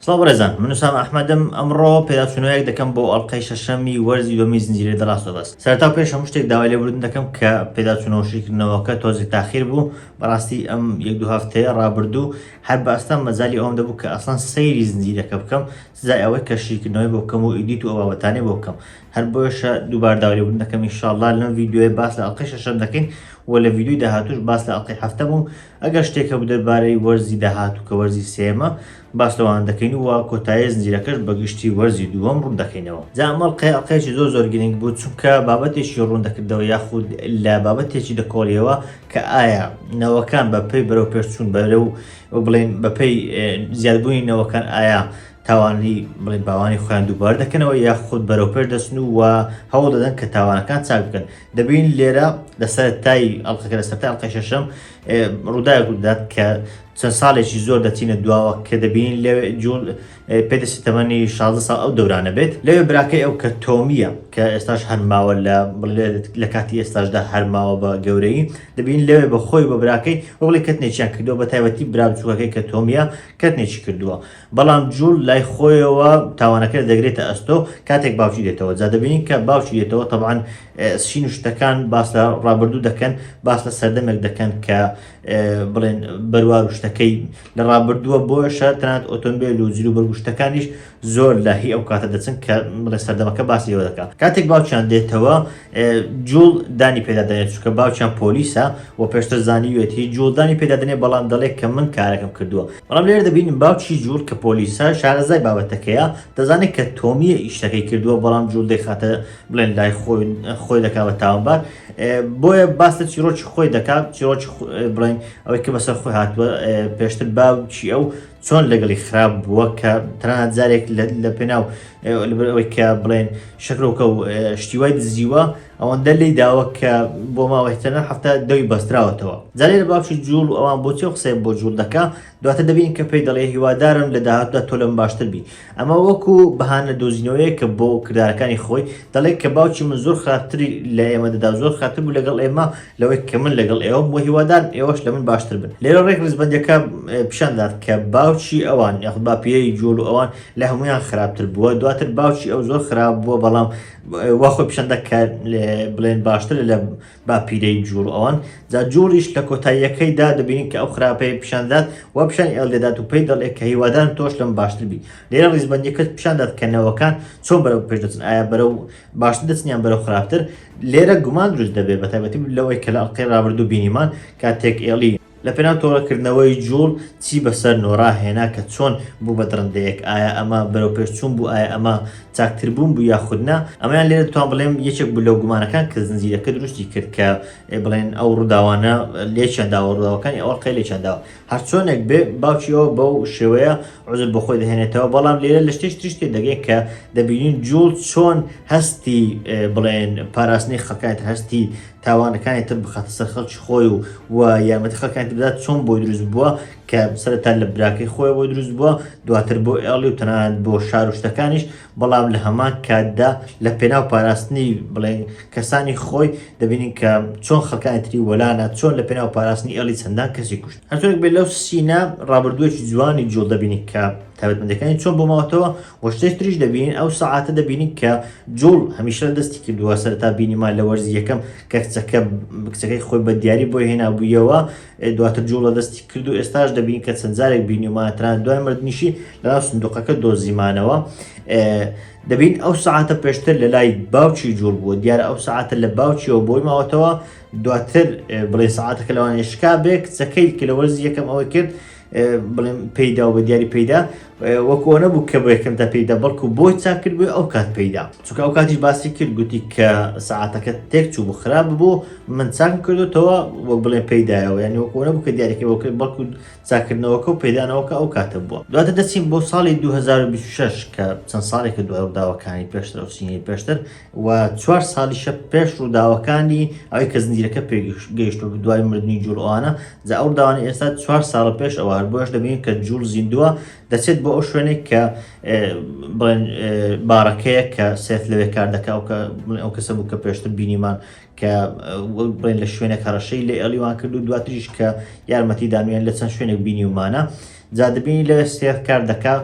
سڵاو بەڕێزان من وسام ئەحمەدم ئەمڕۆ پێداچوونەوەیەک دەکەم بۆ ئەڵلقەی شەشەمی وەرزی دومی زنجیرە دەڕاستە بەس سەرتا پێش هەموو شتێک داوای لێبوردن دەکەم کە پێداچوونەوە شیکردنەوەکە تۆزی تاخیر بوو بەڕاستی ئەم یەک دو هەفتەیە ڕابردوو هەر بەستان مەزای ئەوم دەبوو کە ئەسان سەیری زنجیرەکە بکەم سزای ئەوەی کە شیکردنەوەی بۆ بکەم و ئیدیت و ئەوابەتانێ بۆ بکەم هەر بۆیشە دووبار داوریبوون دەکەم ئیشاءاللە لەم ڤیدیۆیە باس لە ئەڵقەی شەشەم دەکەین و لە ڤیدیۆی داهاتوش باس لە ئەڵقەی هەفتەم و ئەگەر شتێک هەبوو دەربارەی وەرزی داهاتوو کە وەرزی سێمە باس لەوان دەکەین و کۆتایی زنجیرەکەش بەگشتی وەرزی دووەم ڕوون دەکەینەوە جا ئەمەڵ قەی ئەڵقەیەکی زۆر زۆر گرنگ بوو چونکە بابەتێکی ڕوون دەکردەوە یاخود لە بابەتێکی دەکۆڵیەوە کە ئایا نەوەکان بەپی بەرەو پێشچوون بەرە و بڵێن بەپی زیادبوونی نەوەکان ئایا تاوانی بڵێن باوانی خۆیان دووبار دەکەنەوە یاخود بەرەوپێش دەچن و وە هەوڵ دەدەن کە تاوانەکان چاک بکەن دەبین لێرە لەسەر تای ئەڵلقەکە لە سەرتا ئەڵلقەی شەشەم ڕووداوێک ڕوودات کە چەند ساڵێکی زۆر دەچینە دواوە کە دەبین لە جوڵ پێدەستی تەمەنی 16 ساڵ ئەو دەورانە بێت لەوێ براکەی ئەو کە تۆمیە کە ئێستاش هەرماوە لە لە کاتی ئێستاشدا هەرماوە بە گەورەی دەبین لەوێ بە خۆی بە براکەی بڵێ کەتنێکیان کردو بە تایبەتی برا بچووەکەی کە تۆمیە کەتنێکی کردووە بەڵام جوول لای خۆیەوە تاوانەکە لە دەگرێتە ئەستۆ کاتێک باوکی دێتەوە جا دەبینین کە باوکی دێتەوە تەبان سین شتەکان باس لە ڕابردوو دەکەن باس لە سەردەمێک دەکەن کە بڵێن بەروار و شتەکەی لە ڕابردووە بۆ شەرتەنات ئۆتۆمبیل و جلو بەرگشتەکانیش زۆر لە هی ئەو کاتە دەچن کە بڵێ سەردەمەکە باسی ئەوە دەکات کاتێک باوکیان دێتەوە جوڵ دانی پێدا دەنێت چکە باوچیان پۆلیسە و پێشتر زانیوێتی جوڵدانی پێدا دەنێ بەڵام دەڵێت کە من کارەکەم کردووە بەڵام لێر دەبین باوچی جوڵ کە پۆلیسە شارەزای بابەتەکەیە دەزانێت کە تۆمیە ئیشتەکەی کردووە بەڵام جوڵ دەخاتە بڵێن لای خۆی خۆی دەکا بە تاوانبار بۆیە باس لە چیرۆکی خۆی دەکات چیرۆکی بڵێن ئەوەی کە بەسەر خۆی هاتووە پێشتر باوچی ئەو چۆن لەگەڵی خراپ بووە کە تەنانەت جارێک لە پێناو لەبەر ئەوەی کە بڵێن شەکرۆکە و شتی وای دزیوە ئەوەندە لی داوە کە بۆ ماوەهتەنە هەفتە دەوی بەستراوەتەوە زانێ لە باوکی جوڵ و ئەوان بۆچی قسەی بۆ جوڵ دەکە دواتە دەبین کە پێی دەڵێ هیوادارم لە داهاتدا تۆ لەم باشتر بی ئەمە وەکو بەهانە دۆزینەوەیە کە بۆ کردارەکانی خۆی دەڵێت کە باوکی من زۆر خراپتری لە ئێمە دەدا زۆر خراپتر بوو لەگەڵ ئێمە لەوەی کە من لەگەڵ ئێوەم بۆ هیوادارم ئێوەش لە من باشتر بن لێرە ڕێک ڕزبندەکە پیشاندات کە باوکی ئەوان یاخود باپیری جوڵ و ئەوان لە هەموویان خراپتر بووە دواتر باوکی ئەو زۆر خراپ بووە بەڵام وا خۆی پیشەندە کە بڵێن باشتر لە باپیرەی جووڵ ئەوان جا جووڵیش لە کۆتاییەکەیدا دەبینین کە ئەو خراپەیە پیشاندات و پیشانی ئێڵ دەدات و پێی دەڵێ کە هیوادارم تۆش لەم باشتر بی لێرە ڕیزبەندیەکەت پیشاندات کە نەوەکان چۆن بەرەو پێش دەچن ئایا بەرەو باشتر دەچنیان بەرەو خراپتر لێرە گومان دروست دەبێت بە تایبەتی لەوەی کە لە ئەڵقەی ڕابردوو بینیمان کاتێک ئێڵی لە پێناو تۆڵە کردنەوەی جوڵ چی بەسەر نۆرا هێنا کە چۆن بوو بە دڕندەیەک ئایا ئەمە بەرەو پێش چوون بوو ئایا ئەمە چاکتر بوون بوو یاخود نا ئەمەیان لێرە دەتوان بڵێم یەکێک بوو لەو گومانەکان کە زنجیرەکە دروستی کرد کە بڵێن ئەو ڕووداوانە لێکیان داوە ڕووداوەکانی ئەو ڕقەی لێکیان داوە هەر چۆنێک بێ باوکی ئەو بەو شێوەیە عزر بۆ خۆی دەهێنێتەوە بەڵام لێرە لە شتێش تریش تێ دەگەین کە دەبینین جوڵ چۆن هەستی بڵێن پاراستنی خەکایەت هەستی تاوانەکانی تر بخاتە سەر خەڵکی خۆی و و یارمەتی خەکانی بدات چۆن بۆی دروست بووە کە سەرتا لە براکەی خۆی بۆی دروست بووە دواتر بۆ ئێڵی و تەنانەت بۆ شار و شتەکانیش بەڵام لە هەمان کاتدا لە پێناو پاراستنی بڵێن کەسانی خۆی دەبینین کە چۆن خەکانی تری وەلانە چۆن لە پێناو پاراستنی ئێڵی چەندان کەسی کوشت هەرچۆنێک بێت لەو سینا ڕابردووەکی جوانی جوڵ دەبینی کە تابەتمەندەکانی چۆن بۆ ماوەتەوە وە شتێک تریش دەبینین ئەو سەعاتە دەبینین کە جوڵ هەمیشە دەستی کردووە سەرتا بینیمان لە وەرزی یەکەم کە کچەکە کچەکەی خۆی بە دیاری بۆ هێنابوویەوە دواتر جوڵە دەستی کرد و ئێستاش دەبین کە چەند جارێک بینیمان تران دوای مردنیشی لەناو سندوقەکە دۆزیمانەوە دەبین ئەو سعاتە پێشتر لە لای باوکی جوڵ بووە دیارە ئەو سعاتە لە باوکیەوە بۆی ماوەتەوە دواتر بڵێ سعاتەکە لەوانێشکا بێ کچەکەی کە لە وەرزی یەکەم ئەوەی کرد بڵێم پێیدا و بە دیاری پێیدا وەکو ئەوە بوو کە بۆ یەکەم تا پێیدا بەڵکو بۆی چاک کرد بووی ئەو کات پێیدا چونکە ئەو کاتیش باسی کرد گوتی کە سعاتەکە تێک چوو بوو خراپ بوو من چاکم کردوتەوە وەک بڵێ پێیدایەوە ینی وەکو ئەوە بوو کە دیارەکە بۆ کرد بەڵکو چاکردنەوەکە و پێدانەوەکە ئەو کاتە بووە دواتە دەچین بۆ ساڵی 2026 کە چەند ساڵێکە دوای ڕداوەکانی پێشتر و سینی پێشتر و چوار ساڵیشە پێش ڕووداوەکانی ئەوەی کە زنجیرەکە پێ گەیشتوە دوای مردنی جوڵ ئەوانە جا ئەو ڕووداوانە ئێستا چوار ساڵە پێش ئەوە هەر بۆیەش دەبینین کە جوڵ زیندووە دەچێت بۆ ئەو شوێنێک کە بڵێن بارەکەیە کە سێف لەوێ کار دەکا و کە بڵێن ئەو کەسە بوو کە پێشتر بینیمان کە بڵێن لە شوێنێک هەڕەشەی لێ ئەلیوان کرد و دواتریش کە یارمەتی دانوێن لە چەند شوێنێک بینیومانە جا دەبینی لەوێ سێڵ کار دەکا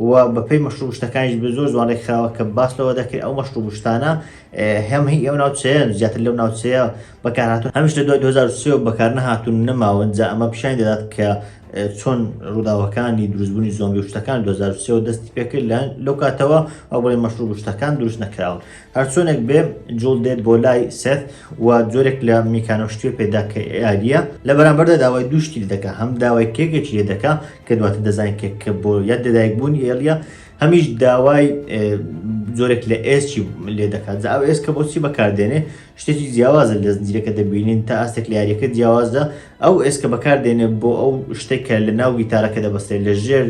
و بەپێی مەشروب شتەکانیش بێ زۆر جوان ڕێکخراوە کە باس لەوە دەکرێت ئەو مەشروب شتانە هەم هی ئەو ناوچەیە زیاتر لەو ناوچەیە بەکارهاتون هەمیش لە دوای 2023 بەکار نەهاتون نەماون جا ئەمە پیشانی دەدات کە چۆن ڕووداوەکانی دروستبوونی زۆمبی شتەکان 2023 دەستی پێکرد لە لەو کاتەوە ئەو بڵێ مەشروب شتەکان دروست نەکراون هەرچۆنێک بێ جوڵ دێت بۆ لای سێت و جۆرێک لە میکانۆ شتێ پێدا کە یاریە لە بەرامبەردا داوای دووشتی لە دەکە هەم داوای کێکێکی لێ دەکە کە دواتە دەزانین کێک کە بۆ یاد دەدایک بوونی ئێلیە هەمیش داوای جۆرێک لە ئێسکی لێ دەکات ئەو ئێسکە بۆچی بەکاردێنێ شتێکی جیاوازە لە زنجیرەکە دەبینین تا ئاستێک لە یاریەکە جیاوازە ئەو ئێسکە بەکار دێنێ بۆ ئەو شتێک کە لە ناو گیتارەکە دەبەستێت لە ژێر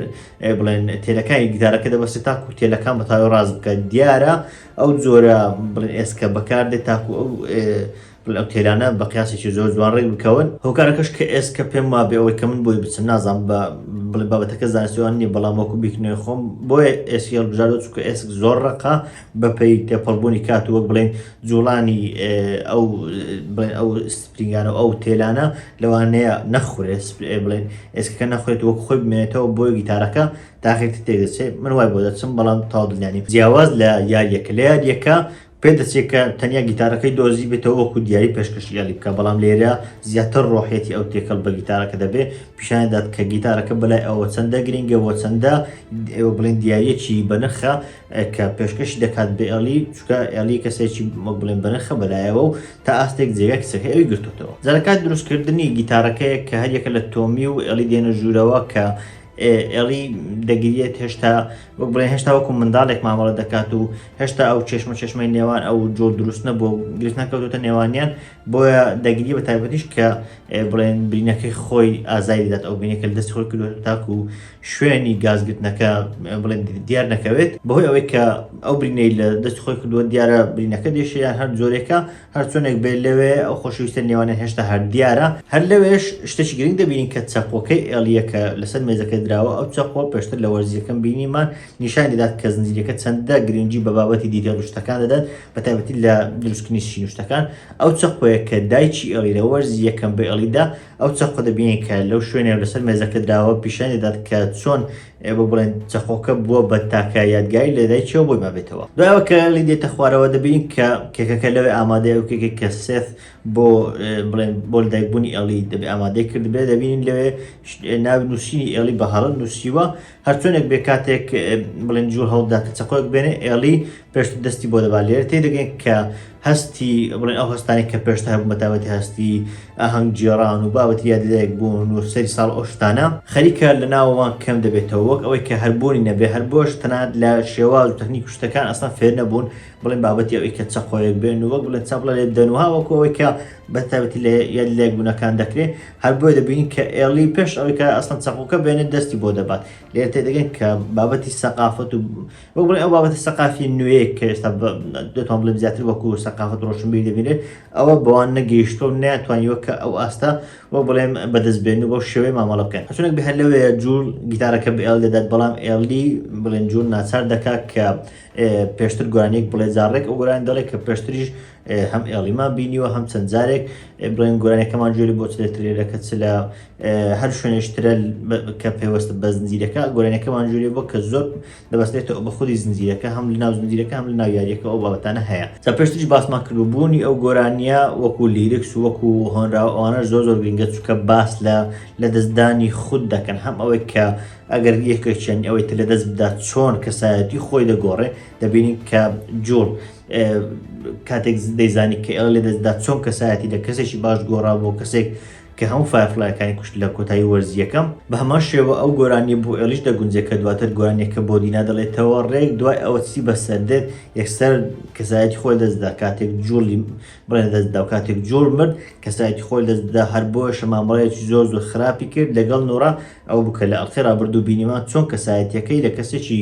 بڵێن تێلەکانی گیتارەکە دەبەستێت تاکو تێلەکان بە تاوی ڕاز بکە دیارە ئەو جۆرە بڵێن ئێسکە بەکار دێت تاکو ئەو ئەو تێلانە بە قیاسێکی زۆر جوان ڕێک بکەون هۆکارەکەش کە ئێسکە پێم وا بێ ئەوەی کە من بۆی بچم نازان بە بڵێ بابەتەکە زانستیوان نیە بەڵام وەکو بیکنێ خۆم بۆیە ئێسکی هەڵبژاردە چکە ئێسک زۆر ڕقا بەپی تێپەڵبوونی کات وەک بڵێن جوڵانی ئەو ئەو گرنگانە و ئەو تێلانە لەوانەیە نەخورێت سپرئێ بڵێن ئێسکەکە نەخورێت وەک خۆی بمێنێتەوە بۆ گیتارەکە تاخیرتر تێکدەچێت من وای بۆ دەچم بەڵام تەواو دڵنیا نیم جیاواز لە یاریەکە لە یاریەکە پێدەچێت کە تەنیا گیتارەکەی دۆزی بێتەوە وەکو دیاری پێشکەشی یالی بکە بەڵام لێرە زیاتر ڕۆحێتی ئەو تێکەڵ بە گیتارەکە دەبێت پیشاندات کە گیتارەکە بەلای ئەوە چەندە گرنگە وە چەندە ئێوە بڵێن دیارەکی بەنرخە کە پێشکەشی دەکات بێ ئەلی چکە ئەلی کەسێکی مەک بڵێن بەنرخە بەلایەوە و تا ئاستێک جێگای کچەکەی ئەوی گرتۆتەوە. جارەکە دروستکردنی گیتارەکەیە کە هەریەکە لە تۆمی و ئێڵی دێنە ژوورەوە کە ئێڵی دەگریێت هێشتا وەک بڵێ هێشتا وەکو منداڵێک مامەڵە دەکات و هێشتا ئەو چێشمە چێشمەی نێوان ئەو جۆر دروست نەبوو و گرفت نەکەوتوتە نێوانیان بۆیە دەگری بە تایبەتیش کە بڵێن برینەکەی خۆی ئازاری دەات ئەو بینێکە دەست خۆی کردوێت تاکو شوێنی گازگرتنەکە بڵێن دیار نەکەوێت بەهۆی ئەوەی کە ئەو برینەی لە دەست خۆی کردووە دیارە برینەکە دێشیان هەر جۆرێکە هەر چۆنێک بێت لەوێ ئەو خۆشویستە نێوانە هێشتا هەر دیارە هەر لەوێش شتێکی گرنگ دەبین کە چەقۆکەی ئێلیەکە لەسەر مێزەکە دراوە ئەو چەقۆ پێشتر لە وەرزیەکەم بینیمان نیشان دەدات کە زنجیرەکە چەندە گرنگی بە بابەتی دیتێل شتەکان دەدات بە تایبەتی لە دروستکردنی شینوشتەکان ئەو چەقۆیە کە دایکی ئێلی لە وەرزی یەکەم بە ئێلیدا ئەو چەقۆ دەبینین کە لەو شوێنێ و لەسەر مێزەکە دراوە پیشانی دەدات کە چۆن ئێ بۆ بڵێن چەقۆکە بووە بە تاکە یادگاری لە دایکیەوە بۆی مابێتەوە دوایەوە کە لی دێتە خوارەوە دەبینین کە کێکەکە لەوێ ئامادەیە و کێکێک کە سێف بۆ بڵێن بۆ لەدایکبوونی ئێڵی دەبێ ئامادەی کردبێ دەبینین لەوێ ناوی نووسینی ئێڵی بە هەڵە نووسیوە هەرچۆنێک بێ کاتێک بڵێن جوو هەوڵدا کە چەقۆک بێنێ ئێڵی پێشت دەستی بۆ دەبا لێر تێ دەگەین کە هەستی بڵێن ئەو هەستانی کە پێشتە هەبوو بەتابەتی هەستی ئاهەنگ جێران و بابەت یاددایەک بوون و سەری ساڵ ئۆشتانە خەریکە لە ناوەوان کەم دەبێتەوە وەک ئەوەی کە هەربوونی نەبێ هەر بۆش تەنات لە شێواز و تەکنیک شتەکان ئەسان فێر نەبوون بڵێن بابەتی ئەوەی کە چەقۆیەک بێن و وەک بڵێن چەپڵە لێ بدەن و هاوەکۆەوەی کە بە تایبەتی لە یەک لێک بوونەکان دەکرێت هەر بۆی دەبینین کە ئێڵی پێش ئەوەی کە ئەسڵەن چەقۆکە بێنێت دەستی بۆ دەبات لێ تێدەگەن کە بابەتی سەقافەت و وەک بڵێ ئەو بابەتە سەقافی نوێیە کە ئێستا دەتوان بڵێ زیاتر وەکو سەقافەت ڕۆشنبی دەبینێت ئەوە بەوان نەگەیشتۆ و ناتوانیوە کە ئەو ئاستا وەک بڵێم بەدەست بێن و بەو شێوەی مامەڵە بکەن چونک بهر لەوێ جوور گیتارەکە بە ئێڵ دەدات بەڵام ئێڵی بڵێن جوور ناچار دەکات کە پێشتر گوانێک بڵێ جاڕێک ئەو گۆران دەڵێت کە پێشتریش هەم ئێڵیمان بینیوە هەم چەند جارێک بڵێن گۆرانەکەمان جوێری بۆ چ لە ترێرەکە چ لە هەر شوێنێشترە کە پێوەستە بە زنجیرەکە گۆرانەکەمان جوێری بۆ کە زۆر دەبستێتەوە بە خودی زنجیرەکە هەم لە ناو زنجیرەکە هەم لە ناو یاریەکە ئەو بابەتانە هەیە تا پێشتیش باسمان کردو بوونی ئەو گۆرانیە وەکو لیرکس وەکو هۆنراوە ئەوانە زۆر زۆر گرنگە چکە باس لە لە دەستدانی خود دەکەن هەم ئەوەی کە ئەگەر یەکێکیان ئەوەی تر لە دەست بدات چۆن کەسایەتی خۆی دەگۆڕێ دەبینین کە جوڵ کاتێک دەیزانی کە ئێڵ لە دەستدا چۆن کەسایەتی لە کەسێکی باش گۆڕا بۆ کەسێک کە هەموو فایفلایەکانی کوشت لە کۆتایی وەرزیەکەم بە هەمان شێوە ئەو گۆرانی بۆ ئێلیش دەگونجێت کە دواتر گۆرانێکە بۆ دینا دەڵێتەوە ڕێک دوای ئەوە چی بەسەردێت یەکسەر کەسایەتی خۆی دەستدا کاتێک جوڵی بڵێ دەستدا و کاتێک جوڵ مرد کەسایەتی خۆی دەستدا هەر بۆ شەمامڕەیەکی زۆر زۆر خراپی کرد لەگەڵ نۆرا ئەو بکە لە ئەڵخێ ڕابردوو بینیمان چۆن کەسایەتەکەی لە کەسێکی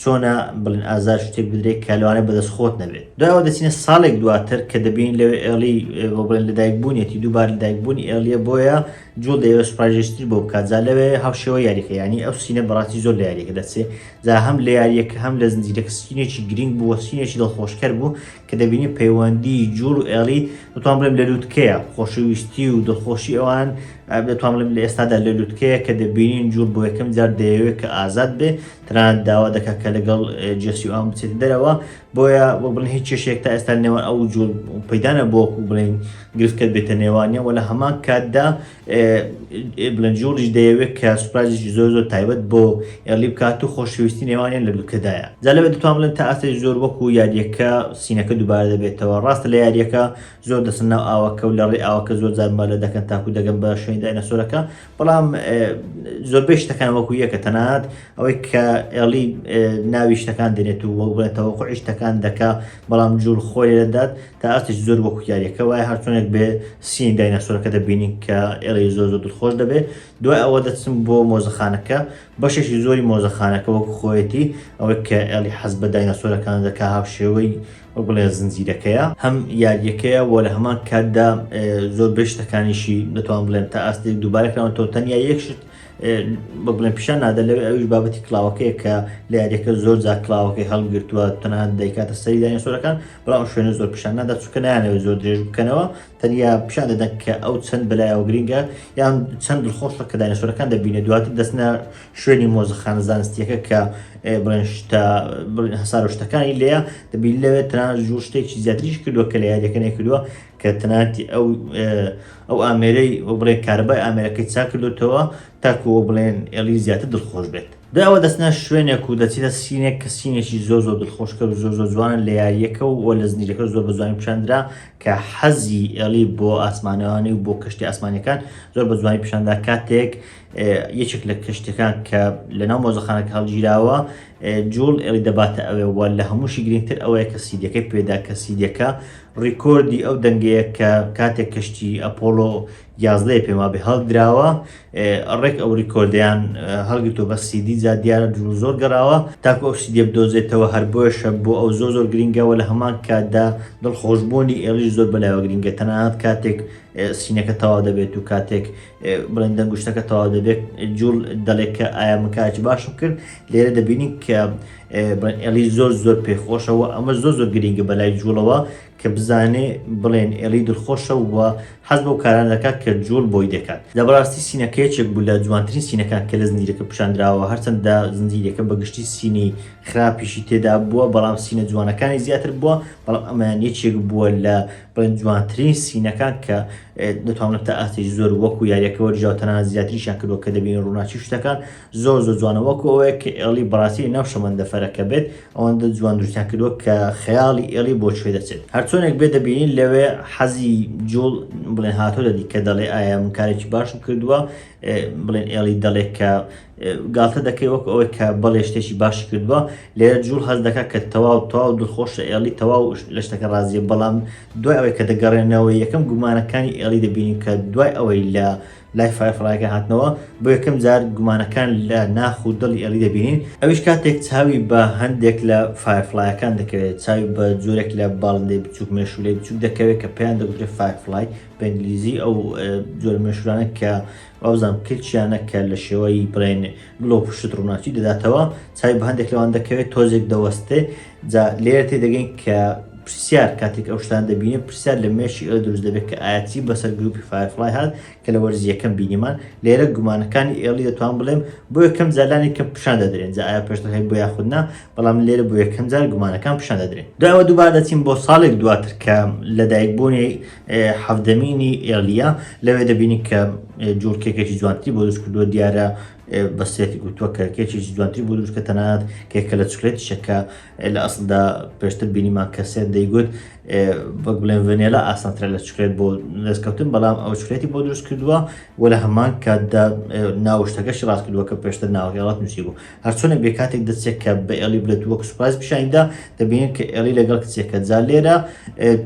چۆنە بڵین ئازار شتێک بدرێت کە لەوانێ بەدەست خۆت نەبێت دوایەوە دەچینە ساڵێک دواتر کە دەبین لەوێ ئێڵی بڵێن لە دایکبوونیەتی دووبار لە دایکبوونی ئێڵیە بۆیە جوڵ دەیەوە سوپاژێشتر بۆ بکات جا لەوێ هاوشێوە یاریەکە ینی ئەو سینە بەڕاستی زۆر لە یاریەکە دەچێت جا هەم لە یاریەکە هەم لە زنجیرەکە سینێکی گرنگ بووە سینێکی دڵخۆشکەر بوو کە دەبینی پەیوەندی جوڵ و ئێڵی دەتوان بڵێم لە لووتکەیە خۆشەویستی و دڵخۆشی ئەوان دەتوان بڵێم لە ئێستادا لە لووتکەیە کە دەبینین جوڵ بۆ یەکەم جار دەیەوێت کە ئازاد بێ تەنانەت داوا دەکات کە لەگەڵ جێسی ئەوان بچێت دەرەوە بۆیە بۆ بڵێن هیچ چێشێک تا ئێستا نێوان ئەو جوڵ پەیدانە بۆکو بڵێن گرفتکە بێتە نێوانە وە لە هەمان کاتدا بلندجوڵیش دەیەوێت کە سوپرایزێکی زۆر زۆر تایبەت بۆ ئێرلی بکات و خۆشەویستی نێوانیان لە دووکەدایە جا لەوێ دەتوان بڵێن تا ئاستێکی زۆر وەکو یاریەکە سینەکە دووبارە دەبێتەوە ڕاستە لە یاریەکە زۆر دەسن ناو ئاوەکە و لە ڕێ ئاوەکە زۆر جار مەلە دەکەن تاکو دەگەن بە شوێنی داینەسۆرەکە بەڵام زۆربەی شتەکان وەکو یەکە تەنات ئەوەی کە ئێڵی ناوی شتەکان دێنێت و وەڵبڵێتەوە خۆی شتەکان دەکا بەڵام جوول خۆی دەدات تا ئاستێکی زۆر وەکو یاریەکە وایە هەرچۆنێک بێ سین دایناسۆرەکە دەبینین کە ئێرەی زۆر زۆر دڵخۆش دەبێ دوای ئەوە دەچم بۆ مۆزەخانەکە بەشێکی زۆری مۆزەخانەکە وەکو خۆیەتی ئەوەی کە ئێڵی حەز بە دایناسۆرەکان دەکا هاوشێوەی وەک بڵێ زنجیرەکەیە هەم یاریەکەیە وە لە هەمان کاتدا زۆر بێشتەکانیشی دەتوان بڵێن تا ئاستێک دووبارەکراوە تۆ تەنیا یەکشت بە بڵێن پیشان نادە لەوێ ئەویش بابەتی کلااوەکەیە کە لە یاریەکە زۆر جا کلااوەکەی هەڵگرتووە تەنها دەیکاتە سەری دایناسۆرەکان بەڵام ئەو شوێنە زۆر پیشان نادا چونکە نایانەوەی زۆر درێژ بکەنەوە تەنیا پیشان دەدەن کە ئەو چەند بەلایەوە گرینگە یان چەند دڵخۆشە کە داینەسۆرەکان دەبینێت دواتر دەستنە شوێنی مۆزەخانە زانستیەکە کە بڵێن شتا بڵێن هەسار و شتەکانی لێە دەبین لەوێت تەنان زۆر شتێکی زیاتریش کردووە کە لە یاریەکەنێ کردووە کە تەناتی ئەو ئەو ئامێرەی بڵێ کاربای ئامێرەکەی چا کردوتەوە تاکو ئەوە بڵێن ئێڵی زیاتر دڵخۆش بێت دوای ئەوە دەچنە شوێنێک و دەچیتە سینێک کە سینێکی زۆر زۆر دڵخۆشکەر و زۆر زۆر جوانە لە یارییەکە و وە لە زنجیرەکە زۆر بە جوانی پیشاندرا کە حەزی ئێڵی بۆ ئاسمانەوانی و بۆ کەشتی ئاسمانیەکان زۆر بە جوانی پیشاندا کاتێک یەکێک لە کەشتەکان کە لەناو مۆزەخانەکە هەڵگیراوە جوڵ ئێڵی دەباتە ئەوێ وە لە هەمووشی گرنگتر ئەوەیە کە سیدەکەی پێدا کە سیدەکە ڕیکۆردی ئەو دەنگەیە کە کاتێک کەشتی ئەپۆلۆ یازدەیە پێم وابێ هەڵدراوە ڕێک ئەو ڕیکۆردیان هەڵگرتو بە سیدی جا دیارە درو زۆر گەڕاوە تاکو ئەو سیدیە بدۆزێتەوە هەر بۆیشە بۆ ئەو زۆر زۆر گرنگەوە لە هەمان کاتدا دڵخۆشبوونی ئێڵیش زۆر بەلایەوە گرنگە تەنانەت کاتێک سینەکە تەواو دەبێت و کاتێک بڵێن دەنگشتەکە تەواو دەبێت جوڵ دەڵێت کە ئایا مکاچی باشم کرد لێرە دەبینین کە ئێلی زۆر زۆر پێخۆشەوە ئەمە زۆر زۆر گرنگە بەلای جوڵەوە کە بزانێ بڵێن ئێڵی دڵخۆشە و حەز بەو کارانە دەکات کە جووڵ بۆی دەکات. لە بەڕاستی سینەکە یەکێک بوو لە جوانترین سینەکان کە لە زنجیرەکە پیشاندراوە، هەرچەندە زنجیرەکە بە گشتی سینی خراپیشی تێدا بووە، بەڵام سینە جوانەکانی زیاتر بووە، بەڵام ئەمەیان یەکێک بووە لە بڵێن جوانترین سینەکان کە دەتوانم تا ئاستێکی زۆر وەکو یاریەکە وەرگیراوە، تەنانەت زیاتریشیان کردووە کە دەبینین ڕووناکی شتەکان زۆر زۆر جوانە وەکو ئەوەیە کە ئێڵی بەڕاستی ناو شەمەندە فەرەکە بێت ئەوەندە جوان دروستیان کردووە کە خەیاڵی ئێڵی بۆ کوێ دەچێت هەرچۆنێک بێ دەبینین لەوێ حەزی جوڵ بڵێن هاتۆ دەدی کە دەڵێ ئایا من کارێکی باشم کردووە بڵێن ئێڵی دەڵێ کە گاتە دەکەی وەک ئەوەی کە بەڵێ شتێکی باشی کردووە لێرە جوڵ هەز دەکات کە تەواو تەواو دڵخۆشە ئێڵی تەواو لە شتەکە ڕازیە بەڵام دوای ئەوەی کە دەگەڕێنەوە یەکەم گومانەکانی ئێڵی دەبینین کە دوای ئەوەی لە لای فایف ڕایەکە هاتنەوە بۆ یەکەم جار گومانەکان لە ناخ و دڵی ئێڵی دەبینین ئەویش کاتێک چاوی بە هەندێک لە فایف ڕایەکان دەکەوێت چاوی بە جۆرێک لە باڵندەی بچووک مێشوولەی بچووک دەکەوێت کە پێیان دەگوترێت فایف ڕای بە ئینگلیزی ئەو جۆر مێشورانە کە وابزانم کلچیانە کە لە شێوەی بڵێن گڵۆ پشت ڕووناچی دەداتەوە چای بە هەندێک لەوان دەکەوێت تۆزێک دەوەستێ جا لێرە تێدەگەین کە پرسیار کاتێک ئەو شتان دەبینێت پرسیار لە مێشی ئەو دروست دەبێت کە ئاەتی بەسەر گروپی فایرفلای هات کە لە وەرزیەکەم بینیمان لێرە گومانەکانی ئێڵی دەتوان بڵێم بۆ یەکەم زالانی کە پیشان دەدرێن جا ئایا پێشتر هەیە بۆ یاخودنا بەڵام لێرە بۆ یەکەم جار گومانەکان پیشان دەدرێن داوە دووبار دەچین بۆ ساڵێک دواتر کە لەدایک بوونی حەفدەمینی ئێڵە لەوێ دەبینی کە جوڵکێکێکی جوانتری بۆ دروست کردووە دیارە بەسیەتی گوتووە کە کێکی جوانتری بۆ دروستکە تەنات کێکە لە چکلێتی شەکە لە ئەسلدا پێشتر بینیمان کەسێت دەیگوت بەک بڵێن ڤنێلا ئاسانترە لە چکلێت بۆ دەستکەوتن بەڵام ئەو چکلێتی بۆ دروست کردووە و لە هەمان کاتدا ناوشتەکەشی ڕاست کردووە کە پێشتر ناوغێڵات نووسی بوو هەرچۆنە بێ کاتێک دەچێت کە بە ئێڵی بلێت وەک سوپاس پیشاندا دەبینین کە ئێڵی لەگەڵ کچێکە جا لێرە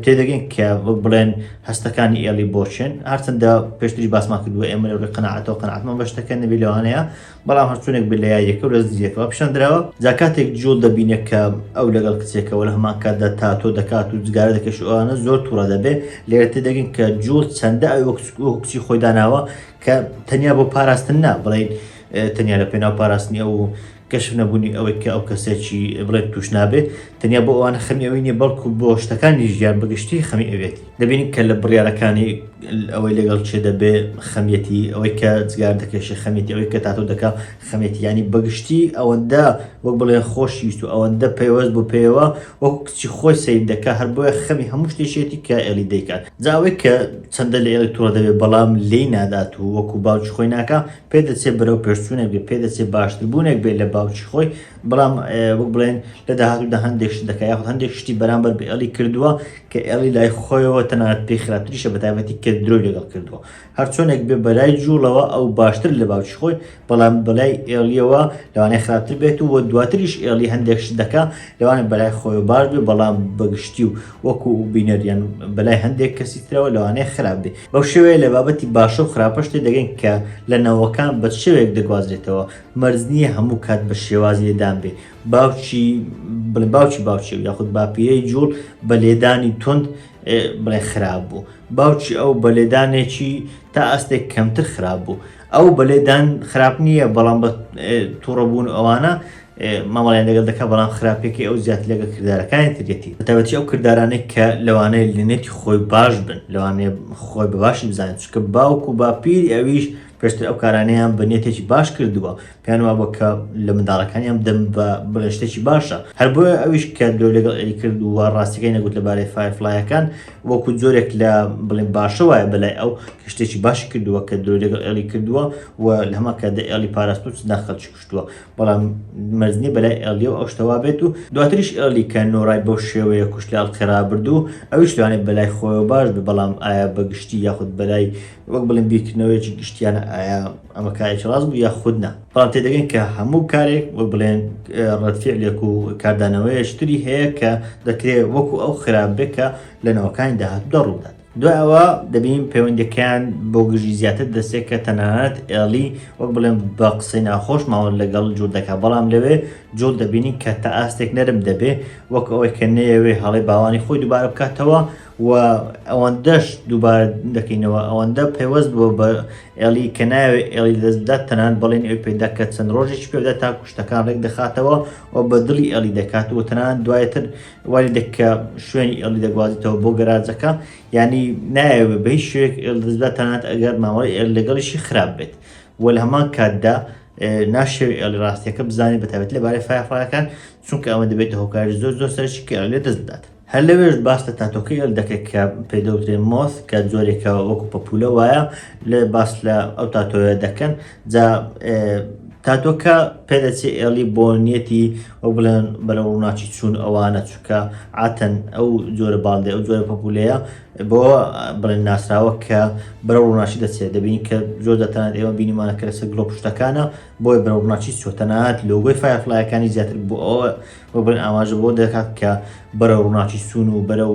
تێدەگەین کە بڵێن هەستەکانی ئێڵی بۆچێن هەرچەندە پێشتری باسمان کردووە ئێمە لەڕێ قەنەعاتەوە قەنەعاتمان بەشتەکە نەبی لەوانەیە بەڵام هەرچونێک بێت لە یاریەکە لە زیەکەوە پیشاندراوە جا کاتێک جوڵ دەبینێت کە ئەو لەگەڵ کچێکەوە لە هەمان کاتدا تاتۆ دەکات و جگارە دەکەش ئەوانە زۆر تووڕە دەبێت لێرە تێدەگەین کە جوڵ چەندە ئەو کچی خۆی داناوە کە تەنیا بۆ پاراستن نا بڵین تەنیا لە پێناو پاراستنی ئەو و کەشف نەبوونی ئەوەی کە ئەو کەسە چی بڵێت تووش نابێ، تەنیا بۆ ئەوانە خەمی ئەوی نییە بەڵکوو بۆ شتەکانی ژیان بە گشتی خەمی ئەوێتی. دەبینین کە لە بڕیارەکانی، ئەوەی لەگەڵ کێ دەبێ خەمیەتی، ئەوەی کە جگار دەکێشێ خەمیەتی، ئەوەی کە تاتۆ دەکا خەمیەتی، یانی بە گشتی ئەوەندە وەک بڵێ خۆشی ویست و ئەوەندە پەیوەست بوو پێیەوە وەکوو کچی خۆی سەیر دەکا، هەر بۆیە خەمی هەموو شتێکیەتی کە ئێڵی دەیکات. جا ئەوەی کە چەندە لە ئێڵی تووڕە دەبێ بەڵام لێی نادات و وەکوو باوکی خۆی ناکا، پێدەچێت بەرەوپێشچوونێک بێت، پێدەچێت باشتربوونێک بێت لە باوکی خۆی، بەڵام وەک بڵێن لە داهاتوودا هەندێک شت دەکات یاخود هەندێک شتی بەرامبەر بە ئێڵی کردووە کە ئێڵی لای خۆیەوە تەنانەت پێی خراپتریشە بە تایبەتی کە درۆی لەگەڵ کردووە هەر چۆنێک بێ بەلای جوڵەوە ئەو باشتر لە باوکی خۆی بەڵام بەلای ئێڵیەوە لەوانەیە خراپتر بێت و دواتریش ئێڵی هەندێک شت دەکا لەوانە بەلای خۆی باش بێ بەڵام بەگشتی و وەکو بینەریان بەلای هەندێک کەسی ترەوە لەوانەیە خراپ بێ بەو شێوەیە لە بابەتی باشە و خراپەش تێدەگەین کە لە نەوەکان بە چ شێوەیەک دەگوازرێتەوە، مەرج نییە هەموو کات بە شێوازی لێدان بێ، باوکی بڵێ باوکی باوکی و یاخود باپیرەی جووڵ بە لێدانی توند بڵێ خراپ بوو، باوکی ئەو بە لێدانێکی تا ئاستێک کەمتر خراپ بوو، ئەو بە لێدان خراپ نییە بەڵام بە تووڕە بوون و ئەوانە مامەڵیان لەگەڵ دەکات بەڵام خراپێکی ئەو زیاتر لەگە کردارەکانی ترێتی بەتابەتی ئەو کردارانێک کە لەوانەیە لەنێتی خۆی باش بن لەوانێ خۆی بە باشی بزانێت چکە باوک و باپیری ئەویش پێشتر ئەو کارانەیان بە نێتێکی باش کردووە پێیان وابوو کە لە منداڵەکانیان بدەم بە بڵێن شتێکی باشە، هەر بۆیە ئەویش کە درۆ لەگەڵ ئێری کرد و ڕاستییەکەی نەگوت لەبارەی فایەرفڵایەکان، وەکو جۆرێک لە بڵێن باشە وایە بەلای ئەو کە شتێکی باشی کردووە کە درۆی لەگەڵ ئێلی کردووە و لە هەمان کاتدا ئێلی پاراستووە چ نا خەڵکی کوشتووە، بەڵام مەرج نییە بەلای ئێلیەوە ئەو شتە وابێت و دواتریش ئێلی کە نۆرای بەو شێوەیە کوشت لە ئەڵقەی ڕابردوو ئەویش لەوانەیە بەلای خۆیەوە باش بێت، بەڵام ئایا بە گشتی یاخود بەلای وەک بڵێن بیرکردنەوەیەکی گشتیانە ئایا ئەمە کارێکی ڕاست بوو یا خود نا بەڵام تێدەگەن کە هەموو کارێک وەک بڵێن ڕەتفعلێک و کاردانەوەیشتری هەیە کە دەکرێت وەکو ئەو خراپ بێت کە لە ناوەکانی داهات دەڕوودات دوایەوە دەبین پەیوەندەکەیان بۆ گژی زیاتر دەستێک کە تەنانەت ئێڵی وەک بڵێن بە قسەی ناخۆش ماوە لەگەڵ جوور دەکە بەڵام لەوێ جوڵ دەبینین کە تا ئاستێک نەرم دەبێ وەک ئەوەی کە نەیەوێ هەڵی باوانی خۆی دووبارە بکاتەوە و ئەوەندەش دووبارە دەکەینەوە ئەوەندە پەیوەست بووە بە ئێڵی کە ناوێ ئێڵی لەدەستبدات تەنانەت بەڵێنی ئەوی پێدا کە چەند ڕۆژێکی پێدا تا کوشتەکان ڕێک دەخاتەوە و بە دڵی ئێڵی دەکات و تەنانەت دوایتر وای دەکە شوێنی ئێڵی دەگوازیتەوە بۆ گەراجەکە یعنی نایەوێ بە هیچ شوێک ئێڵ دەستبدات تەنانەت ئەگەر مامەڵی ئێڵ لەگەڵیشی خراپ بێت و لە هەمان کاتدا ناشەوێ ئێڵی ڕاستیەکە بزانێت بەتابێت لەبارەی فایەفڵایەکان چونکە ئەمە دەبێتە هۆکاری زۆر زۆر سەرشی کە ئێڵ لێ دەست بدات هەر لەوێش باس لە تاتۆکەی ئەل دەکرێت کە پێ دەوترێت مۆس کە جۆرێکە وەکو پەپولە وایە لێ باس لە ئەو تاتۆیە دەکەن جا تاتۆکە پێدەچێ ئێڵی بۆ نیەتی ئەو بڵێن بەرە ڕووناچی چوون ئەوانە چووکە ئاتەن ئەو جۆرە باڵدێ ئەو جۆرە پەپولەیە بۆ بڵێن ناسراوە کە بەرە ڕووناچی دەچێت دەبین کە زۆر دەتانات ئێوە بینیمانە کە لەسەر گڵۆ پشتەکانە بۆی بەرە ڕووناچی چۆتەنات لۆگۆی فایفلایەکانی زیاتر بۆ ئەوە وە بڵێن ئاماژە بەوە دەکات کە بەرەو ڕووناکی سوون و بەرەو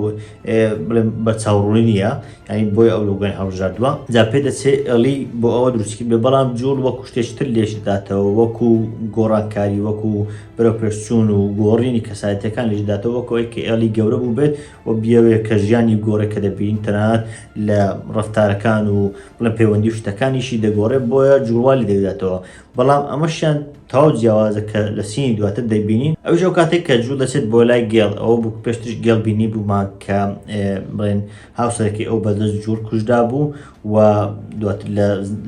بڵێن بە چاوڕوونی نییە یعنی بۆی ئەو لۆگۆی هەڵبژاردووە جا پێ دەچێ ئێڵی بۆ ئەوە دروستکرد بێ بەڵام جووڵ وەکو شتێکی تر لێش دەداتەوە وەکو گۆڕانکاری وەکو بەرەو پێشچوون و گۆڕینی کەسایەتیەکان لێش دەداتەوە وەکو ئەوەی کە ئێڵی گەورە بوو بێت و بیەوێ کە ژیانی گۆڕێ کە دەبین تەنانەت لە ڕەفتارەکان و بڵێن پەیوەندی و شتەکانیشی دەگۆڕێ بۆیە جووڵ وا لێ دەداتەوە بەڵام ئەمەشیان تەواو جیاوازە کە لە سینی دواتر دەیبینین ئەوش ئەو کاتێک کە جوو دەچێت بۆ لای گێڵ ئەوە بوو پێشترش گێڵ بینی بوومان کە بڵێن هاوسەرەکەی ئەو بەدەست جوور کوژدا بوو و دواتر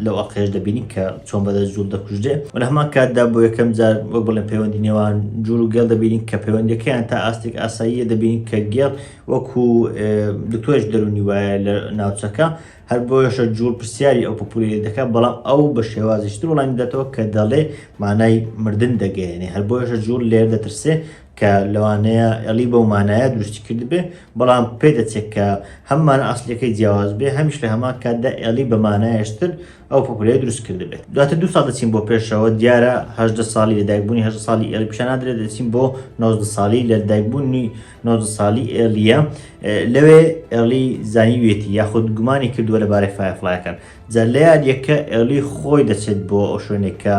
لەو ئەقێش دەبینی کە چۆن بەدەست جوور دەکوژدێ و لە هەمان کاتدا بۆ یەکەم جار وەک بڵێن پەیوەندی نێوان جوور و گێڵ دەبینین کە پەیوەندەکەیان تا ئاستێک ئاساییە دەبینین کە گێڵ وەکو دکتۆرش دەرونی وایە لە ناوچەکە هەر بۆیەشە جووڵ پرسیاری ئەو پوپوولەیل دەکا، بەڵام ئەو بە شێوازیش تر وەڵامی دەداتەوە کە دەڵێ مانای مردن دەگەیەنێ. هەر بۆیەشە جووڵ لێرە دەترسێ کە لەوانەیە ئێڵی بەو مانایە دروستی کردبێ، بەڵام پێ دەچێ کە هەم مانا ئەسڵیەکەی جیاواز بێ، هەمیش لە هەمان کاتدا ئێڵی بە مانایەش تر ئەو پوپوولەیە دروست کردبێ. دواتر دوو ساڵ دەچین بۆ پێشەوە، دیارە هەژدە ساڵی لە دایکبوونی هەژدە ساڵی ئێڵی پیشان نادرێ، دەچین بۆ نۆزدە ساڵی لە لەدایکبوونی، نۆزدە ساڵی ئێڵییە لەوێ ئێڵی زانیوێتی یاخود گومانی کردووە لە بارەی فایفلایەکان جا لە یادیەکە ئێڵی خۆی دەچێت بۆ ئەو شوێنێک کە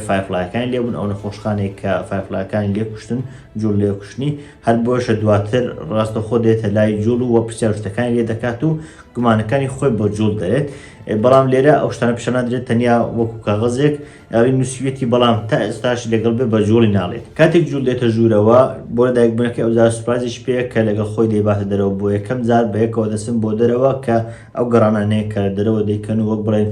فایفلایەکان لێبوون ئەو نەخۆشخانێک کە فایفلایەکانی لێکوشتن جوڵ لێکوشتنی هەر بۆشە دواتر ڕاستە خۆ دێتە لای جوڵ و پرسیارشتەکانی لێ دەکات و گومانەکانی خۆی بۆ جوڵ دەێت بەڵام لێرە ئەو شتانە پیشنادرێت تەنیا وەکو کاغەزێک ئەوەی نووسیویەتی بەڵام تا ئێستاش لەگەڵ بێ بە جوڵی ناڵێت کاتێک جوول دێتە ژوورەوە بۆ دایک بنەکە ئەوزار سوپازیش پێ کە لەگەڵ خۆی دەیباتە دەرەوە بۆ یەکەم جار بەیەکەوە دەچن بۆ دەرەوە کە ئەو گەڕانانەیە کە لە دەرەوە دەیکەن و وەک بڵێن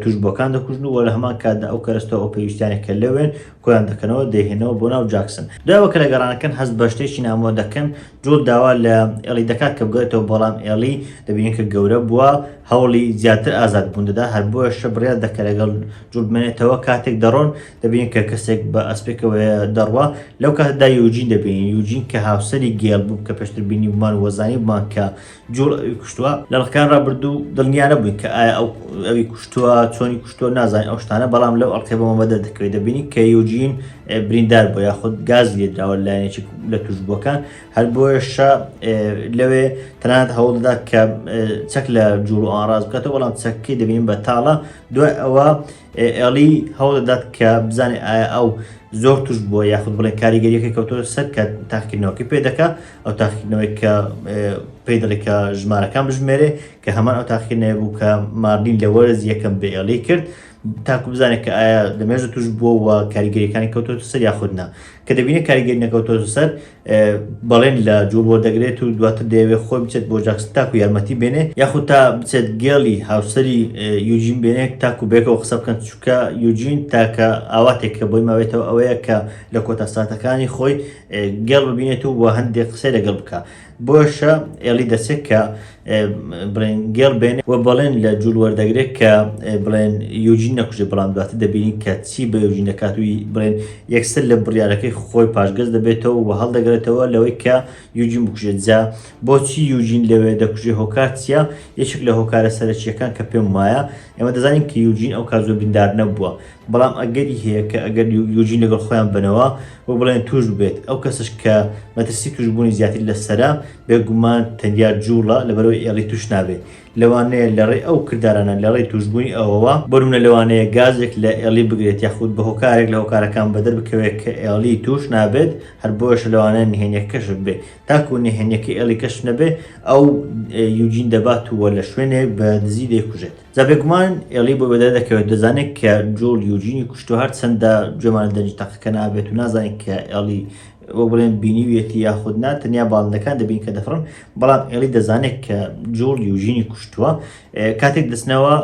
توش بۆکان دەکوژن و لە هەمان کاتدا ئەو کەرەستەوە ئەو پێویستیانە کە لەوێن کۆیان دەکەنەوە دەهێنەوە بۆ ناو جاکسن داوە کە لە گەڕانەکەن هەست بە شتێکی نامۆ دەکەن جۆت داوا لە ئێڵی دەکات کە بگەێتەوە بەڵام ئێڵی دەبینین کە گەورە بووە هەوڵی زیاتر ئازاد بوون دەدا هەر بۆە شە بڕیا دەکە لەگەڵ جوبمێنێتەوە کاتێک دەڕۆن دەبین کە کەسێک بە ئەسپێکەوە دەڕوە لەو کاتدا یوجین دەبین یوجین کە هاوسری گێڵ بوو کە پێشتر بینی بمان وەزانی بمان کە جوڵ ئەوی کوشتووە لە ڕخکان ڕابردوو دڵنیا نەبووین کە ئایا ئەو ئەوی کوشتووە چۆنی کوشتووە نازانین ئەو شتانە بەڵام لەو ئەڵقێ بەمە بەدە دەکەوێت دەبینی کە یوجین بریندار بۆ یاخود گاز لێدراوە لایەنێکی لە توشبووەکان هەر بۆیشە لەوێ تەنات هەوڵدا کە چەک لە جوڵ ئاڕاز بکاتەوە بەڵام چەکەکەی دەبین بە تاڵە دوای ئەوە ئێڵی هەوڵدەدات کە بزانێت ئایا ئەو زۆر توش بووە یاخود بڵێ کاریگەریەکە کەوتۆ سەر کە تاقیکردنەوەکە پێ دەکە ئەو تاقیکردنەوەی کە پێی دەڵێ کە ژمارەکان بژمێرێ کە هەمان ئەو تاقیکردنەوە بوو کە مارلین لە وەرز یەکەم بێڵی کرد تاکو بزانێت کە ئایا لە مێژە توش بووە کاریگەریەکانی کەوتۆ سەر یاخودنا کە دەبینە کاریگەری نەکەوتۆ سەر بەڵێن لە جوڵ وەردەگرێت و دواتر دەیەوێت خۆی بچێت بۆ جاکسن تاکو یارمەتی بێنێ یاخود تا بچێت گێڵی هاوسەری یوجین بێنێت تاکو بێکەوە قسە بکەن چووکە یوجین تاکە ئاواتێک کە بۆی ماوێتەوە ئەوەیە کە لە کۆتا ساتەکانی خۆی گێڵ ببینێت و وە هەندێک قسەی لەگەڵ بکە بۆشە ئێڵی دەچێت کە بڵێن گێڕ بێنێ و بەڵێن لە جوول وەردەگرێت کە بڵێن یوجین نەکوژێ بەڵام دواتە دەبینین کە چی بە یوجین دەکاتوی بڵێن یەکسەر لە بڕارەکەی خۆی پاشگەز دەبێتەوە و هەڵدەگرێتەوە لەوەی کە یوجین بکوژێت جا بۆچی یوجین لەوێ دەکوژێ هۆکار چیە یەکێک لە هۆکارە سەرەکیەکان کە پێم وایە ئێمە دەزانین کە یوجین ئەو کات زۆر دیندار نەبووە، بەڵام ئەگەری هەیە کە ئەگەر یوجین لەگەڵ خۆیان بنەوە و بڵێن تووش ببێت، ئەو کەسەش کە مەترسی تووشبوونی زیاتر لەسەرە، بێگومان تەنیا جووڵە لەبەرئەوەی ئێڵی تووش نابێت. لەوانەیە لەڕێی ئەو کردارانە لەڕێی تووشبوونی ئەوەوە، بۆنمونە لەوانەیە گازێک لە ئێڵی بگرێت یاخود بە هۆکارێک لە هۆکارەکان بەدەربکەوێت کە ئێڵی تووش نابێت، هەر بۆیەشە لەوانەیە نهێنیەکەکەش ببێت. تاکو نهێنیەکەی ئێڵی کەشف نەبێ ئەو یوجین دەبات و لە شوێنێک بە دزی دەیکوژێت جا بێگومان ئێڵی بۆ بەدای دەکەوێت دەزانێت کە جۆڵ یوجینی کوشتو هەر چەندە گوێمان دەنگی تەقەکە نابێت و نازانین کە ئێڵی وە بڵێن بینیویەتی یاخود نا تەنیا باڵندەکان دەبین کە دەفڕن بەڵام ئێڵی دەزانێت کە جۆڵ یوژینی کوشتووە کاتێک دەچنەوە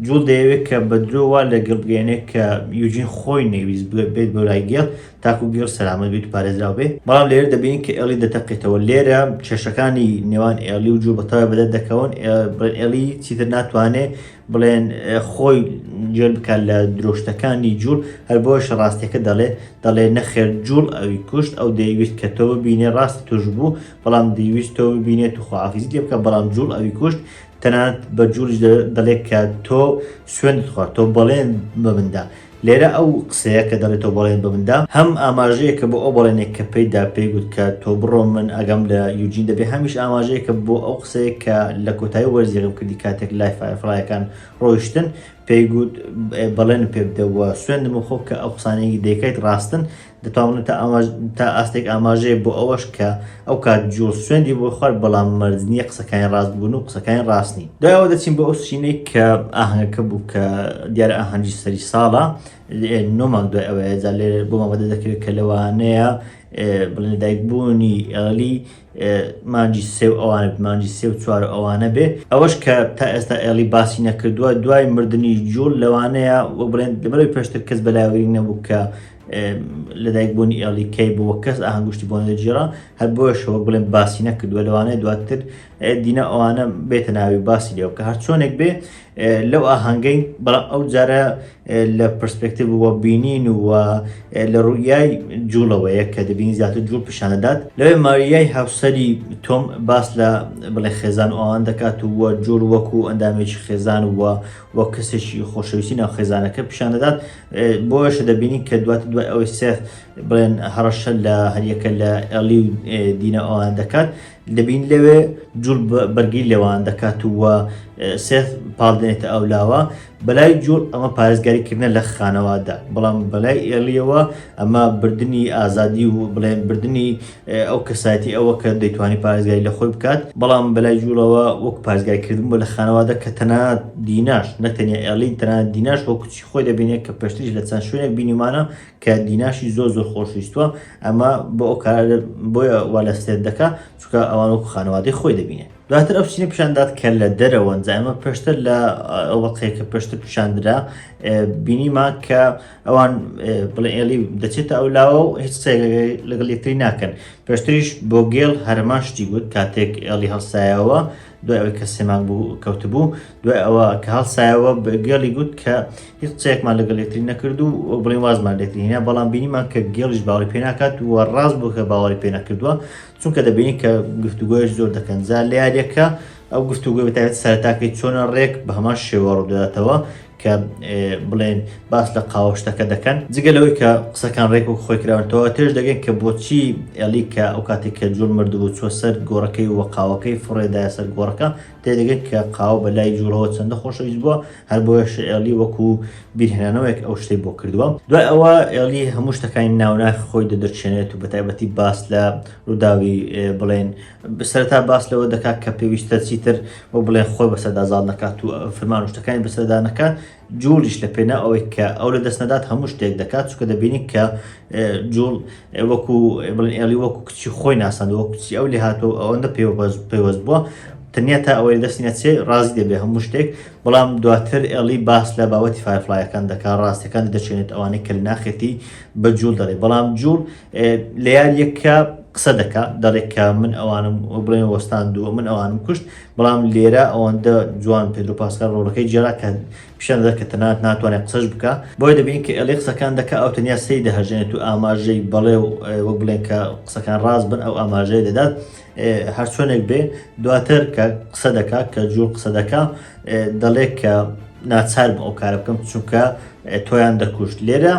جوڵ دەیەوێت کە بە درۆ وا لە گێڵ بگەیەنێت کە یوجین خۆی نەیویست بێت بۆ لای گێڵ تاکو گێڵ سەلامەت بێت و پارێزراو بێت، بەڵام لێرە دەبینین کە ئێڵی دەتەقێتەوە، لێرە کێشەکانی نێوان ئێڵی و جوڵ بەتەواوی بەدەر دەکەون، بڵێن ئێڵی چیتر ناتوانێت بڵێن خۆی جوێن بکات لە درۆشتەکانی جوڵ، هەر بۆیشە ڕاستیەکە دەڵێت، دەڵێت نەخێر جوڵ ئەوی کوشت، ئەو دەیویست کە تۆ ببینێت، ڕاستی تۆش بوو، بەڵام دەیویست تۆ ببینێت و خواحافیزی لێ بکات، بەڵام جوڵ ئەوی کوشت. تەنانەت بە جوولیش دەڵێت کە تۆ سوێندت خوارد تۆ بەڵێن بە مندا لێرە ئەو قسەیە کە دەڵێت تۆ بەڵێن بە مندا هەم ئاماژەیە کە بۆ ئەو بەڵێنێک کە پێیدا پێی گوت کە تۆ بڕۆ من ئەگەم لە یوجین دەبێ هەمیش ئاماژەیە کە بۆ ئەو قسەیە کە لە کۆتایی وەرزیێکم کردی کاتێک لای فایفڵایەکان ڕۆیشتن پێی گوت بەڵێن پێ بدەوە سوێندم خۆ کە ئەو قسانێکی دەکەیت ڕاستن دەتوانم تا ئاماژ تا ئاستێک ئاماژەیە بۆ ئەوەش کە ئەو کات جوڵ سوێندی بۆ خوارد بەڵام مەرج نییە قسەکانی ڕاست بوون و قسەکانی ڕاست نین دوای ئەوە دەچین بۆ ئەو سینەی کە ئاهەنگەکە بوو کە دیارە ئاهەنگی سەری ساڵە نۆ مانگ دوای ئەوەیە جا لێرە بۆمان بەدەر دەکەوێت کە لەوانەیە بڵێن لەدایک بوونی ئێڵی مانگی سێ و ئەوانە بێ مانگی سێ و چوار و ئەوانە بێ ئەوەش کە تا ئێستا ئێڵی باسی نەکردووە دوای مردنی جوڵ لەوانەیە وە بڵێن لەبەرەوەی پێشتر کەس بەلاوەری نەبوو کە لەدایک بوونی ئێڵی کەی بووە کەس ئاهەنگشتی بۆ نەجیێرا هەر بۆشەوە بڵێن باسی نەکردووە لەوانەیە دواتر دینا ئەوانە بێتە ناوی باسی لێەوە کە هەرچۆنێک بێ لەو ئاهەنگەی بەڵام ئەو جارە لە پرسپێکتیڤ و بینین و لە ڕوئیای جوڵەوەیە کە دەبینی زیاتر جوڵ پیشاندات لەوێ ماریای هاوسەری تۆم باس لە بڵێ خێزان و ئەوان دەکات و جوڵ وەکو ئەندامێکی خێزان و وەک کەسێکی خۆشەویستی ناو خێزانەکە پیشان دەدات بۆیەشە دەبینین کە دوات دوای ئەوەی سێف بڵێن هەڕەشە لە هەریەکە لە ئەلی و دینا ئەوان دەکات دەبین لەوێ جوڵ بەرگی لێوان دەکات و سێ پاڵ دێنێتە ئەو لاوە بەلای جوڵ ئەمە پارێزگاریکردە لە خانەوادە بەڵام بەلای ئێڵیەوە ئەمە بردننی ئازادی و بڵێن بردننی ئەو کەسایەتی ئەوە کە دەیتوانی پارێزگای لە خۆی بکات بەڵام بەلای جوڵەوە وەک پارێزگایکردن بۆ لە خانەوادە کە تەنا دیناش نەتەنیا ئێڵین تەنا دیناش بۆ کچی خۆی دەبینێت کە پێشتریش لە چەند شوێنێک بینیمانە کە دیناشی زۆر زۆر خۆشویستوە ئەمە بۆ ئەو کار بۆیە وا لە سێت دەکا چکە ئەوان وەکو خانەوادەی خۆی دەبینێ دواتر ئەو چینە پیشاندات کە لە دەرەوەن زایمە پێشتر لە ئەوەقەیە کە پێشتر پیشاندرا بینیما کە ئەوان بڵێ ئێلی دەچێتە ئەو لاوە و هیچ لەگەڵ یەکتری ناکەن پێشتریش بۆ گێڵ هەرمان شتی گوت کاتێک ئێڵی هەڵسایەوە دوای ئەوەی کە سێ مانگ بوو کەوتبوو دوای ئەوە کە هەڵسایەوە گێڵی گوت کە هیچ قسەیەکمان لەگەڵ یەکتری نەکرد و بڵین وازمان لێترینە بەڵام بینیمان کە گێڵیش باوەڕی پێ ناکات و ڕاست بوو کە باوەڕی پێ نەکردووە چونکە دەبینی کە گفتوگۆیش زۆر دەکەن زار لە یاریەکە ئەو گفتوگوی بەتابێت سەرتاکەی چۆنە ڕێک بە هەمان شێوە ڕووداتەوە کە بڵێن باس لە قاوەشتەکە دەکەن جگە لەوەی کە قسەکان ڕێک و خۆی کراونەوە تێش دەگەن کە بۆچی ئەلی کە ئەو کاتێک کە جوور مردبوو چوە سەر گۆڕەکەی و قاوەکەی فڕێدای سەر گۆڕەکە تێدەگەن کە قاوە بە لای جوورەوە چەندە خۆشەویست بووە هەر بۆش ئەلی وەکو بیرهێنانەوەیەک ئەو شتەی بۆ کردووە دوای ئەوە ئەلی هەموو شتەکانی ناوناخ خۆی دەدەچێنێت و بەتایبەتی باس لە ڕووداوی بڵێن سەرەتا باس لەوە دەکات کە پێویستە چیتر وەک بڵێن خۆی بەسەردا زاڵ نەکات و فرمان و شتەکانی بەسەردا نەکات جوڵیش لە پێنا ئەوەی کە ئەو لە دەست نەدات هەموو شتێک دەکات چکە دەبینی کە جوڵ وەکو بڵێن ئێڵی وەکو کچی خۆی ناسەند وەک کچی ئەو لێ هاتۆ ئەوەندە پێوەست بووە تەنیا تا ئەوەی دەستی نەچێ ڕازی دەبێ هەموو شتێک بەڵام دواتر ئێڵی باس لە باوەتی فایفلایەکان دەکات ڕاستەکانی دەچێنێت ئەوانەی کە لە ناخێتی بە جوول دەڵێ بەڵام جوول لەیاریەکە قسە دەکا دەڵێ کە من ئەوانم بڵێن وەستاندووە من ئەوانم کوشت بەڵام لێرە ئەوەندە جوان پێدرۆ پاسکال ڕۆڵەکەی جێرا کە پیشان دەر کە تەنات ناتوانێت قسەش بکە بۆی دەبین کە ئەلێ قسەکان دەکە ئەو تەنیا سەی دەهژێنێت و ئاماژەی بەڵێ و وەک بڵێن کە قسەکان ڕاست بن ئەو ئاماژەی دەدات هەر چۆنێک بێ دواتر کە قسە دەکات کە جوو قسە دەکە دەڵێت کە ناچار بۆ ئەو کارە بکەم چونکە تۆیان دەکوشت لێرە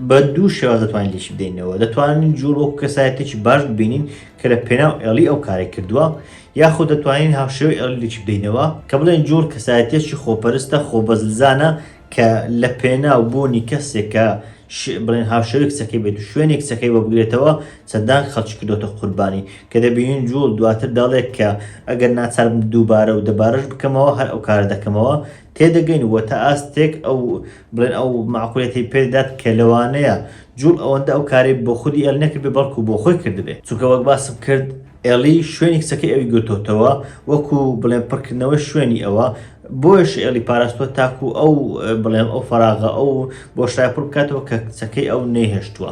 بە دوو شێواز دەتوانین لێکی بدەینەوە دەتوانین جوڵ وەکو کەسایەتێکی باش ببینین کە لە پێناو ئێڵی ئەو کارێ کردووە یاخود دەتوانین هاوشێوەی ئێڵی لێکی بدەینەوە کە بڵێن جوڵ کەسایەتێکی خۆپەرستە خۆبەزلزانە کە لە پێناو بوونی کەسێک کە بڵێن هاوشێوەی کچەکەی بێت و شوێنی کچەکەی بۆ بگرێتەوە چەندان خەڵکی کردۆتە قوربانی کە دەبینین جوڵ دواتر دەڵێت کە ئەگەر ناچاربم دووبارە و دەبارەش بکەمەوە هەر ئەو کارە دەکەمەوە تێدەگەین و تا ئاستێک ئەو بڵێن ئەو مەعقولیەتەی پێدەدات کە لەوانەیە جوڵ ئەوەندە ئەو کارەی بۆ خودی ئێڵی نەکردبێت بەڵکو بۆ خۆی کردبێت چونکە وەک باسم کرد ئێڵی شوێنی کچەکەی ئەوی گرتۆتەوە وەکو بڵێن پڕکردنەوەی شوێنی ئەوە بۆیش ئێڵی پاراستوە تاکو ئەو بڵێم ئەو فەراغە ئەو بۆشای پڕ بکاتەوە کە کچەکەی ئەو نەیهێشتووە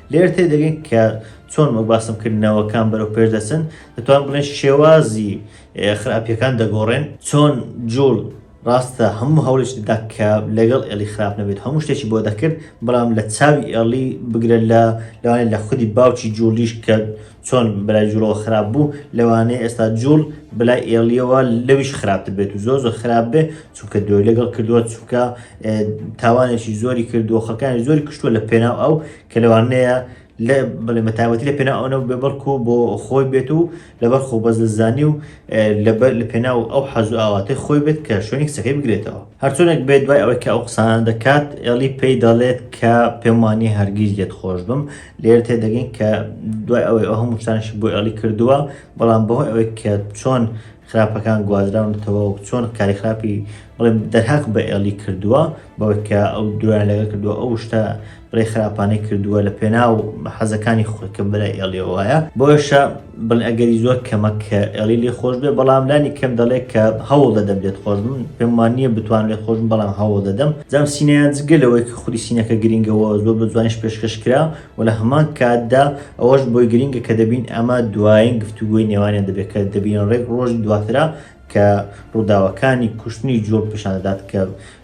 لێرە تێدەگەین کە چۆن وەک باسم کرد نەوەکان بەرەو پێش دەچن دەتوان بڵێن شێوازی خراپیەکان دەگۆڕێن چۆن جوڵ ڕاستە هەموو هەوڵش دەدا کە لەگەڵ ئێڵی خراپ نەبێت هەموو شتێکی بۆ دەکرد بەڵام لە چاوی ئێڵی بگرە لە لەوانێت لە خودی باوکی جوڵیش کە چۆن برای جوڵەوە خراپ بوو لەوانەیە ئێستا جوڵ بلای ئێڵیەوە لەویش خراپتر بێت و زۆر زۆر خراپ بێ چونکە درۆی لەگەڵ کردووە چونکە تاوانێکی زۆری کردووە خەکانی زۆری کشتووە لە پێناو ئەو کە لەوانەیە لە بڵێ مەتاوەتی لە پێنا ئەوەو بێ بەڵکو بۆ خۆی بێت و لەبەر خۆ بەزلزانی و لەبەر لە پێنا و ئەو حەزو ئاواتی خۆی بێت کە شوێنی قسەکەی بگرێتەوە هەرچۆنێک بێت دوای ئەوەی کە ئەو قسان دەکات ئێڵی پێی دەڵێت کە پێمانی هەرگیز لێت خۆش بم لێر تێ دەگەین کە دوای ئەوەی ئەو هەموو شتانشی بۆ ئێڵی کردووە بەڵام بەهۆی ئەوەی کە چۆن خراپەکان گوازراونەتەوە و چۆن کاری خراپی بڵێم دەرهاق بە ئێڵی کردووە بەوەی کە ئەو درۆیان لەگەڵ کردووە ئەو شتە بڵێ خراپانەی کردووە لە پێناو حەزەکانی خۆی کە بەلای ئێڵیەوە وایە بۆیشە بڵێ ئەگەری زۆر کەمە کە ئێڵی لێ خۆش بێ بەڵام لانی کەم دەڵێت کە هەوڵ دەدەم لێت خۆش بم پێم وان نییە بتوان لێت خۆش بم بەڵام هەوڵ دەدەم جام سینەیان جگە لەوەی کە خودی سینەکە گرینگەوە زۆر بە جوانیش پێشکەش کرا و لە هەمان کاتدا ئەوەش بۆی گرینگە کە دەبین ئەمە دوایین گفتوگۆی نێوانیان دەبێت کە دەبین ڕێک ڕۆژی دواترا کە ڕووداوەکانی کوشتنی جوڵ پیشان دەدات کە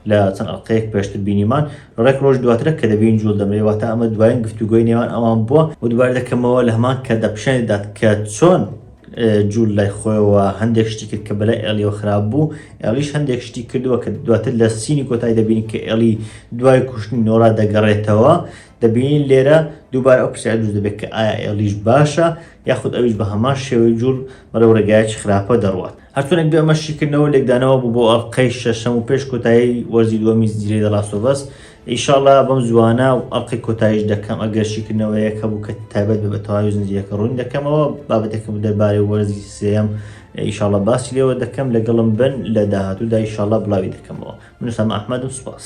لە چەند ئەڵلقەیەک پێشتر بینیمان ڕێک ڕۆژ دواترە کە دەبین جوڵ دەمرێ واتە ئەمە دوایین گفتوگۆی نێوان ئەوان بووە و دوبار دەکەمەوە لە هەمان کە دەپیشان دەدات کە چۆن جوول لای خۆیەوە هەندێک شتی کرد کە بەلای ئەلیەوە خراپ بوو ئەلیش هەندێک شتی کردووە کە دواتر لە سینی کۆتای دەبین کە ئەلی دوای کوشتنی نۆرا دەگەڕێتەوە دەبینین لێرە دووبارە ئەو پرسیار دروست دەبێت کە ئایا ئێڵیش باشە یاخود ئەویش بە هەمان شێوەی جوڵ بەرەو ڕێگایەکی خراپە دەڕوات هەرچۆنێک بێ ئەمە شیکردنەوە لێکدانەوە بوو بۆ ئەڵلقەی شەشەم و پێش کۆتایی وەرزی دووەمی زیرەی دەڵاسۆڤەس ئیشاڵا بەم زوانە و ئەڵلقەی کۆتاییش دەکەم ئەگەر شیکردنەوەیەک هەبوو کە تایبەت بە تەواوی زنجیرەکە ڕوون دەکەمەوە بابەتەکەم دەربارەی وەرزی سێم ئیشاڵە باسی لێوە دەکەم لەگەڵم بن لە داهاتوودا ئیشاڵە بڵاوی دەکەمەوە منوسامە ئەحمەدم سوپاس